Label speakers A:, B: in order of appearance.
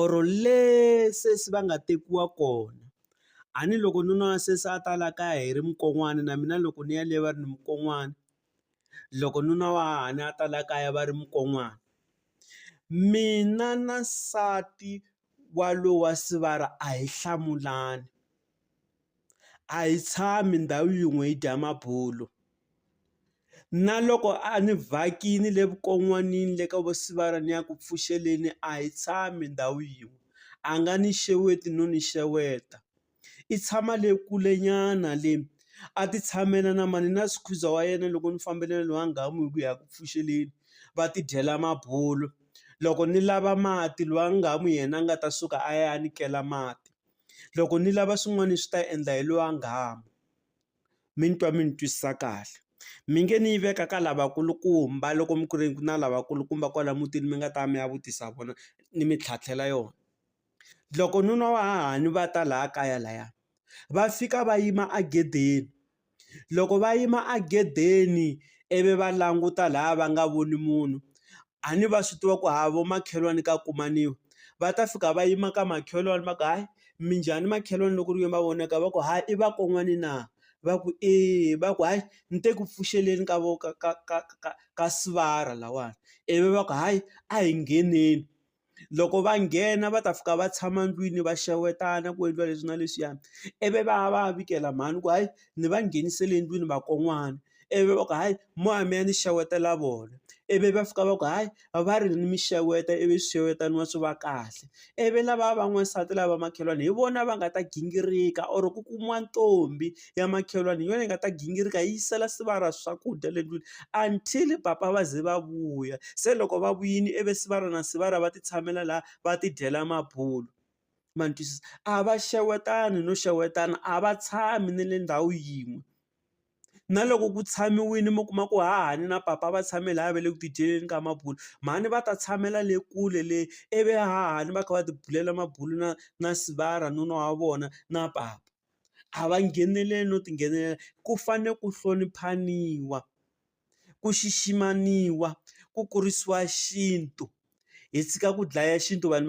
A: or le se se va nga tekiwa kona a ni loko nuna wa sesi a ta la kaya hi ri mukon'wana na mina loko ni ya le va ri ni mukon'wana loko nuna wa hahani a ta la kaya va ri mukon'wana mina na nsati wa lowa sivara a hi hlamulani. a hi tshami ndhawu yin'we hi dya mabulo. Na loko a ni vhakile le vukon'wanini le ka vo Sibaya ni ya ku pfuxeleni a hi tshami ndhawu yin'we, a nga ni xeweti no ni xeweta. I tshama le kulenyana le, a ti tshamela na mhani na squeezer wa yena loko ni fambile na lowa nghamu hi ku ya ku pfuxeleni, va ti dyela mabulo. Loko ni lava mati lowa nghamu yena a nga ta suka a ya ni kela mati. Loko ni lava swin'wana swi ta endla hi lowa nghamu. Mi ni twa mi ni twisisa kahle. Mi nge ni yi veka ka lavakulukumba loko mi ku ri ku na lavakulukumba kwala mutini mi nga ta mi ya vutisa vona ni mi tlhantlhela yona. Loko nuna wa hahani va ta laha kaya lahaya, va fika va yima egedeni. Loko va yima a gedeni ivi va languta lahaya va nga voni munhu, a ni va swi tiva ku ha vo makhelwani ka kumaniwa. Va ta fika va yima ka makhelwani va ku, hayi minjhani makhelwani loko ku ri ke ni va vonaka? Va ku, hayi i vakon'wana na? Va ku, eya. Va ku, hayi ni te ku pfuxeleni ka ka ka ka ka ka sivara lahawani. Ivi va ku, hayi a hi ngheneni. Loko va nghena va ta fika va tshama ndlwini va xewetana ku endliwa leswi na leswiya, ivi va ya va ya vikela mhani ku hayi ni va nghenisele endlwini vakon'wana. Ivi va ku hayi moya mi ya ni xewetela vona, ivi va fika va ku hayi va ri mi xeweta ivi swi xewetaniwa swi va kahle. Ivi lavaya va n'wansati lava va makhelwani hi vona va nga ta gingirika or ku kumiwa ntombi ya makhelwani hi yona yi nga ta gingirika yi yisela sivara ra swakudya le ndlwini until papa va ze va vuya. Se loko va vuyile ivi sivara na sivara va ti tshamela laha va ti dyela mabulo. Ma ni twisisa? A va xewetani no xewetana, a va tshami na le ndhawu yin'we. Na loko ku tshamiwile mi kuma ku hahani na papa va tshame laha va le ku ti dyeleni ka mabulo, mhani va ta tshamela le kule le ivi hahani va kha va ti bulela mabulo na na sivara nuna wa vona na papa. a va ngheneleli no ti nghenelela ku fane ku hloniphaniwa ku xiximaniwa ku kurisiwa xintu hi tshika ku dlaya xintu vanhu va.